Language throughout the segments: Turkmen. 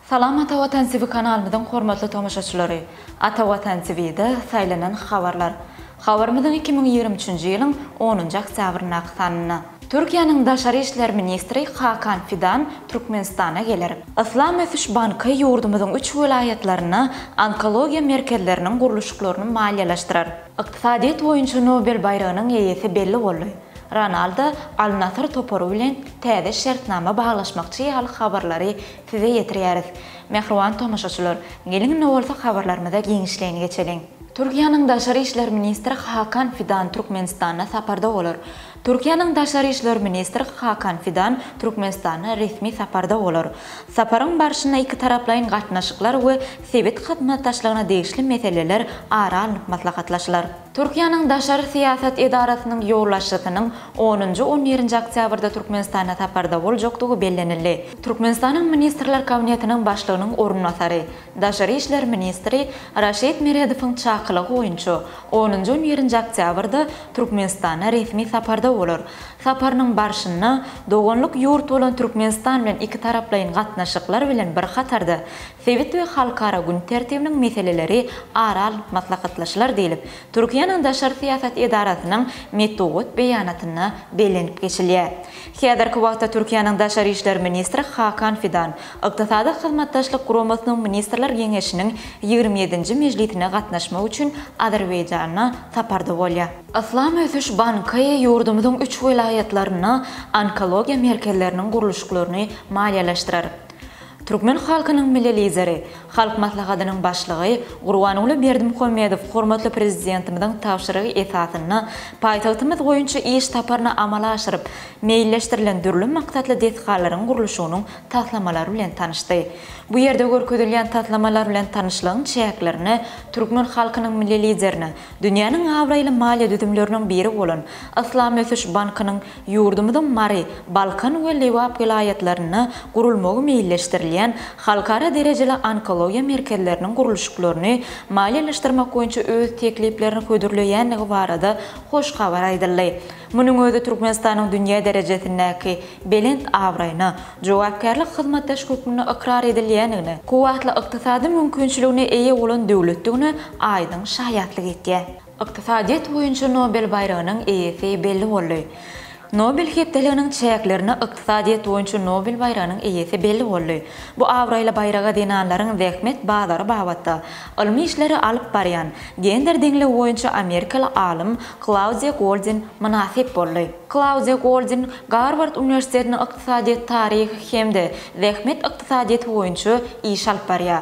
Salam Ata Watan TV kanalymyzyň hormatly tomaşaçylary! Ata Watan TV-de saýlanan habarlar. Habarymyzyň iki müň ýigrimi üçünji ýylyň onunjy oktýabryndaky sanynda. Türkiýäniň Daşary işler ministri Hakan Fidan Türkmenistana geler. Yslam ösüş banky ýurdumyzyň üç welaýatlarynda onkologiýa merkezleriniň gurluşyklaryny maliýeleşdirer. Ykdysadyýet boýunça Nobel baýragynyň eýesi belli boldy. Ronaldo Al-Nasr topary bilen täze şertnama baglaşmakçy ýaly habarlary size ýetirýäris. Mähriban tomaşaçylar, geliň indi bolsa habarlarymyza giňişleýin geçeliň. Türkiýäniň daşary işler ministri Hakan Fidan Türkmenistanda saparda bolar. Türkiýäniň daşary işler ministri Hakan Fidan Türkmenistana resmi saparda bolar. Saparyň barşynda ikitaraplaýyn gatnaşyklar we sebit hyzmatdaşlygyna degişli meseleler ara alnyp maslahatlaşylar. Türkiýäniň daşary syýasat edarasynyň ýolbaşçysynyň onunjy, on birinji oktýabrda Türkmenistana saparda boljakdygy bellenildi. Türkmenistanyň Ministrler Kabinetiniň Başlygynyň orunbasary, Daşary işler ministri Raşid Meredowyň çakylygy boýunça, onunjy on birinji oktýabrda Türkmenistana resmi saparda bolar. Saparynyň barşynda doganlyk ýurt bolan Türkmenistan bilen ikitaraplaýyn gatnaşyklar bilen bir hatarda, sebit we halkara gün tertibiniň meseleleri ara alnyp maslahatlaşylar diýlip, Türkiýäniň daşary syýasat edarasynyň metbugat beýanatynda bellenip geçilýär. Häzirki wagtda Türkiýäniň Daşary işler ministri Hakan Fidan Ykdysady Hyzmatdaşlyk Guramasynyň Ministrler Geňeşiniň ýigrimi ýedinji mejlisine gatnaşmak üçin Azerbaýjana saparda bolýar. Yslam ösüş banky ýurdumyzyň üç welaýatlarynda onkologiýa merkezleriniň gurluşyklaryny maliýeleşdirer. Türkmen halkynyň Milli Lideri, Halk Maslahatynyň Başlygy Gurbanguly Berdimuhamedow hormatly Prezidentimiziň tabşyrygy esasynda paýtagtymyz boýunça iş saparyny amala aşyryp, meýilleşdirilen dürli maksatly desgalaryň gurluşygynyň taslamalary bilen tanyşdy. Bu ýerde görkezilýän taslamalar bilen tanyşlygyň çäklerinde türkmen halkynyň Milli Liderine dünýäniň abraýly maliýe düzümleriniň biri bolan Yslam ösüş bankynyň Ýurdumyzyň Mary, Balkan we Lebap welaýatlarynda gurulmagy meýilleşdirilýän halkara derejeli onkologiýa merkezleriniň gurluşyklaryny maliýeleşdirmek boýunça öz tekliplerini hödürleýändigi barada hoş habar aýdyldy. Munuň özi Türkmenistanyň dünýä derejesindäki belent abraýyna, jogapkärli hyzmatdaş hökmünde ykrar edilýändigine, kuwwatly ykdysady mümkinçiligine eýe bolan döwletdigine aýdyň şaýatlyk etýär. Ykdysadyýet boýunça Nobel baýragynyň eýesi belli boldy. Nobel hepdeliginiň çäklerinde Ykdysadyýet boýunça Nobel baýragynyň eýesi belli boldy. Bu abraýly baýraga zenanlaryň zähmet bazary babatda ylmy işleri alyp barýan, gender deňligi boýunça amerikaly alym Klaudiýa Goldin mynasyp boldy. Klaudiýa Goldin Garward uniwersitetinde ykdysadyýet taryhy hem-de zähmet ykdysadyýeti boýunça iş alyp barýar.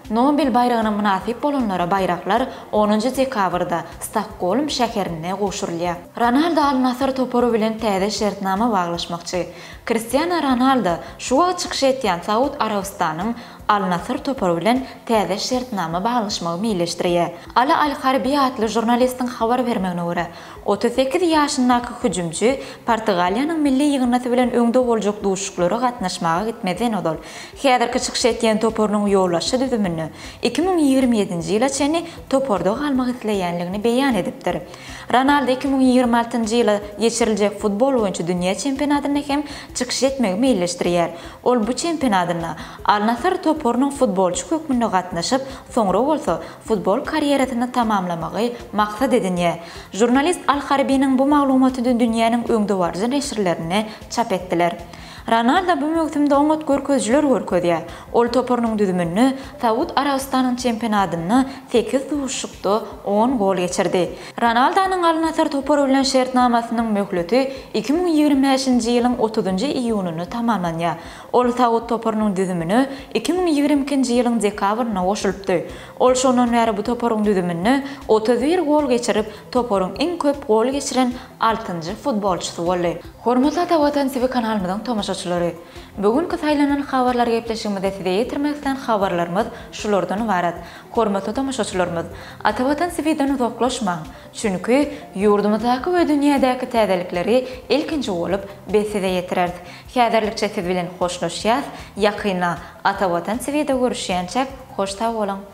Nobel baýragyna mynasyp bolanlara baýraklar onunjy dekabrda Stokgolm şäherinde gowşurylýar. Ronaldo Al-Nasr topary bilen täze şertnama baglaşmakçy. Kristiano Ronaldo şu wagt çykyş etýän Saud Arabystanyň Al-Nasr topary bilen täze şertnama baglaşmagy meýilleşdirýär. Ala Al-Harbi atly žurnalistiň habar bermegine görä, otuz sekiz ýaşyndaky hüjümçi Portugaliýanyň milli ýygyndysy bilen öňde boljak duşuşyklara gatnaşmaga gitmezden ozal, Häzirki çykyş etýän toparynyň ýolbaşçy düzüminde iki müň ýigrimi ýedinji ýyla çenli toparda galmak isleýänligini beýan edipdir. Ronaldo iki müň ýigrimi altynjy ýyla geçiriljek futbol boýunça dünýä çempionatynda hem çykyş etmegi meýilleşdirýär. Ol bu çempionatynda Al-Nasr toparynyň futbolçy hökmünde gatnaşyp, soňra bolsa futbol karýerasyny tamamlamagy maksat edinýär. Žurnalist Al-Harbiniň bu maglumatyny dünýäniň öňdebaryjy neşirlerinde çap etdiler. Ronaldo bu möwsümde oňat görkezijiler görkezýär. Ol toparynyň düzüminde Saud Arabystanyň çempionadynda sekiz duşuşykda on gol geçirdi. Ronaldonyň Al-Nasr topary bilen şertnamasynyň möhleti iki müň ýigrimi bäşinji ýylyň otuzynjy iýunynda tamamlanýar. Ol Saud toparynyň düzümine iki müň ýigrimi ikinji ýylyň dekabrynda goşulypdy. Ol şondan bäri bu toparyň düzüminde otuz bir gol geçirip, toparyň iň köp gol geçiren altynjy futbolçysy boldy. Hormatly Ata Watan TV kanalymyzyň tomaşaçylary! Bu günki saýlanan habarlar gepleşigimizde size ýetirmek islän habarlarymyz şulardan ybarat. Hormatly tomaşaçylarymyz! Ata Watan TV-den uzaklaşmaň! Çünki, ýurdumyzdaky we dünýädäki täzelikleri ilkinji bolup biz size ýetireris. Häzirlikçe siz bilen hoşlaşýas, ýakynda Ata Watan TV-de görüşýänçäk hoş sag boluň!